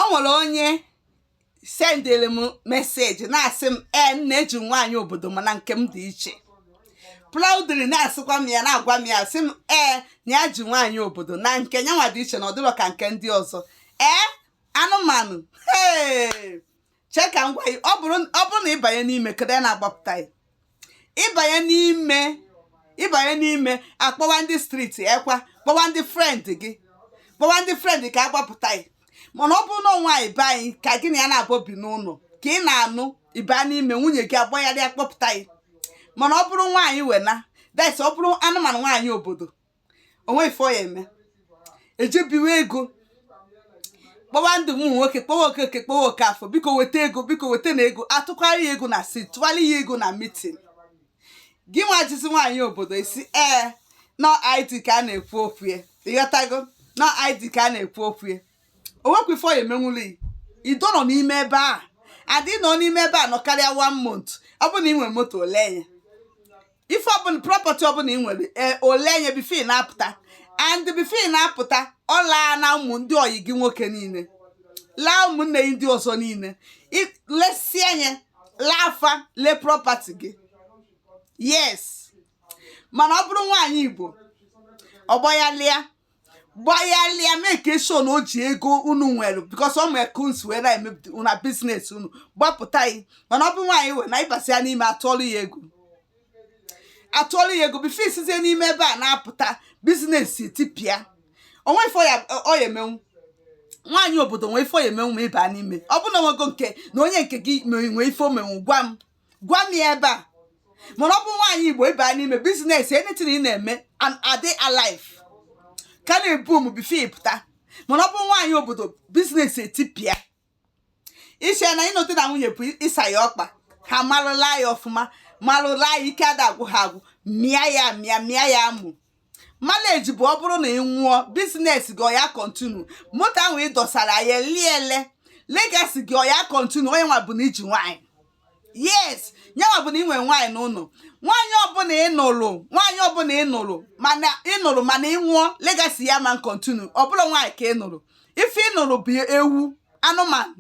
o nwere onye sendịrị m message na-asị m ee m na-eji nwaanyị obodo mana nke m dị iche proudly na-asịkwa m ya na-agwa m ya sị m ee na ya ji nwaanyị obodo na nke nyanwa dị iche na ọ dịrọ ka nke ndị ọzọ ee anụmanụ ee chee ka m gwa gị ọ bụrụ ọ bụrụ na ị banye n'ime kedu ya na-agbapụta gị ịbanye n'ime ịbanye n'ime akpọwa ndị street ekwa kpọwa ndị friend gị kpọwa ndị friend ka a gbapụta gị mana ọ bụrụ na nwaanyị be anyị ka gị na ya naabọ bi n'ụlọ ka ị na-anụ ị ba n'ime nwunye gị agbagharịa kpọpụta gị mana ọ bụrụ nwaanyị wena that's ọ bụrụ anụmanụ nwaanyị obodo o nwe ife ọ ya-eme e je biwe ego kpọwa ndị ụmụ nwoke kpọwa okeke kpọwa okafọ biko weta ego biko wetanụ ego atụkwara ya ego na street tụwara ya ego na meeting gị nwa jizi nwaanyị obodo ị sị ee na ọ ID ka a na-ekwu okwu ya ị ghọtago na ọ ID ka a na-ekwu okwu ya o nwekwa ife ọ ya-emenwulu ya ido nọ n'ime ebe a and nọ n'ime ebe a nọ karịa one month ọ bụrụ na ị nwere moto o lee ya ife ọbụla property ọbụla ị nwere e, o lee ya before ị na-apụta and before ị na-apụta ọ laa na ụmụ ndị ọyị gị nwoke niile laa ụmụnne gị ndị ọzọ niile lesie anya laa afa lee property gị yes mana ọ bụrụ nwaanyị igbo ọ gbaghalịa gbagharịa make sure na o ji ego unu nwere because ọ ma ka unu si wee na-emepụta una business unu gbapụta gị mana ọ bụ nwaanyị wena ị basịa n'ime atụọlụ ya ego atụọlụ ya ego before i sizie n'ime ebe a na-apụta business etipịa o nwe ife ọ ya-emenwu nwaanyị obodo nwee ife ọ ya-emenwu ma ị ba n'ime ọ bụ na o nwego nke na onye nke gị nwee ife o menwu gwa m gwa m ya ebe a mana ọ bụ nwaanyị igbo ị ba n'ime business anything ị na-eme and adị alive ka na-boom before ị pụta mana ọ bụ nwaanyị obodo business etipịa i che na ịnụ di na nwunye bụ ịsa ya ọkpa ha marụ ịla ya ọfụma marụ ịla ya ike ada agwụ ha agwụ mịa ya mịa mịa ya amụ marriage bụ ọ bụrụ na ị nwụọ business gị ọ ya-continue moto ahụ ị dọsara ya eliele legacy gị ọ ya-continue ọ nyanwa bụ na i ji nwaanyị yes nyanwa bụ na ị nwere nwaanyị n'ụlọ nwaanyị ọbụla ị nụrụ nwaanyị ọbụla ị nụrụ mana ị nụrụ mana ị nwụọ legacy gị ama continue ọ bụrọ nwaanyị ka ị nụrụ ife ị nụrụ bụ ewu anụmanụ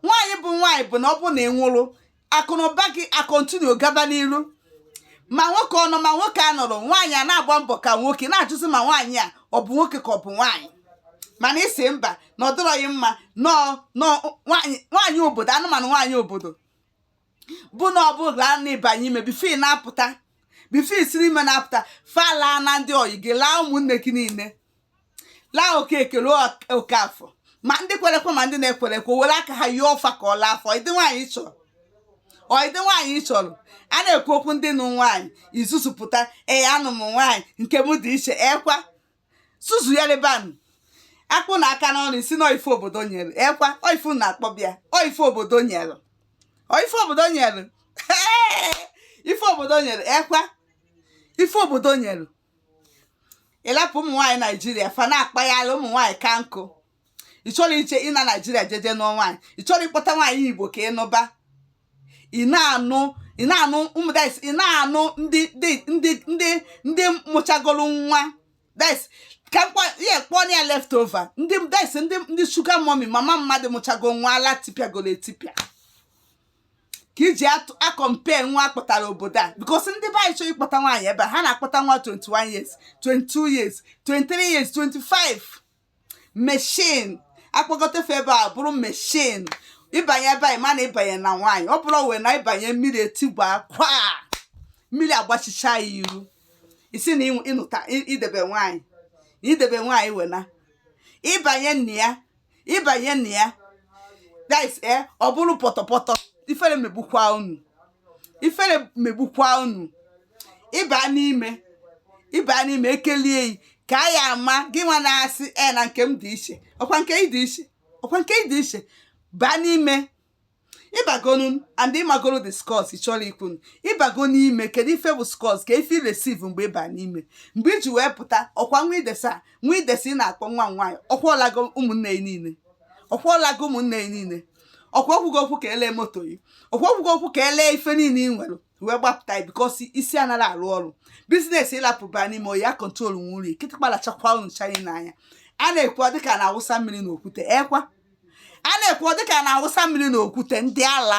nwaanyị bụ nwaanyị bụ na ọ bụ na ị nwụrụ akụnụba gị a-continue gaba n'iru ma nwoke ọ nọ ma nwoke anọrọ nwaanyị a na-agba mbọ ka nwoke na-ajụzi ma nwaanyị a ọ bụ nwoke ka ọ bụ nwaanyị mana ị sị mba na ọ dịrọghị mma no no nwaanyị nwaanyị obodo anụmanụ nwaanyị obodo bụ na ọ bụrụ na ị banye ime before ị na-apụta before i siri ime na-apụta fa laa na ndị oyi gị laa ụmụnne gị niile laa okeke laa okafọ ma ndị kwere ekwe ma ndị na-ekwero ekwe were aka ha yie ọfa ka ọ laa afọ ụdị nwaanyị ị chọrọ ụdịdị nwaanyị ị chọrọ a na-ekwu okwu ndị nụ nwaanyị ị zuzupụta ee anụ m nwaanyị nke m dị iche ekwa zuzu ya lebanụ akpụ na aka n'ọnụ ị sị na ife obodo nyere ekwa oifu na-akpọ bịa ọ ife obodo nyere ọ ife obodo nyere ife obodo nyere ekwa ife obodo nyere ị lapụ ụmụ nwaanyị naijiria fa na-akpagharị ụmụ nwaanyị ka nkụ ị chọrọ iche ịna naijiria jeje nụọ nwaanyị ị chọrọ ịkpọta nwaanyị igbo ka ị nụba ị na-anụ ị na-anụ ụmụ that's ị na-anụ ndị ndị ndị ndị ndị mụchagoro nwa that's ka m kpọ ihe kpọọ ya leftover ndị that's ndị ndị sugar mummy mama mmadụ mụchago nwa ala tipịagoro etipịa ka ị ji acompare nwa a kpọtara obodo a because ndị be anyị chọrọ ịkpọta nwaanyị ebe a ha na-akpọta nwa 21 years 22 years 23 years 25 machine a kpọgote fa ebe a bụrụ machine ị banye ebe anyị mana ị banye na nwaanyị ọ bụrụ wee na ịbanye mmiri etigba kwa mmiri agbachicha ya iru ị sị na ị nụta idebe nwaanyị idebe nwaanyị wena ịbanye na ya ị banye na ya guys ee eh, ọ bụrụ pọtọpọtọ ifere megbukwa unu ifere megbukwa unu ị ba n'ime ị ba n'ime ekelie yi ka a ya ama gịnwa na-asị e na nke m dị iche ọkwa nke ị dị iche ọkwa nke ị dị iche baa n'ime ị bagonu and ị magoro the scores ị chọrọ ikwu ị bago n'ime kedu ife bụ scores ka ife receive mgbe ị ba n'ime mgbe ị ji wee pụta ọkwa nwa idesa nwa idesa ị na-akpọ nwa m nwaanyị ọkwa ọ lago ụmụnne ya niile ọkwa ọ lago ụmụnne ya niile ọkwa o kwugo okwu ka e lee moto yi ọkwa o kwugo okwu ka e lee ife niile ị nwere wee gbapụta ya because isi anaghị arụ ọrụ business ị lapụ ba n'ime oyi ya control nwe uri kịtịkpa lachakwa unu chanye n'anya a na-ekwu dịka a na-awụsa mmiri n'okwute ekwa a na-ekwu dịka a na-awụsa mmiri n'okwute ndị ala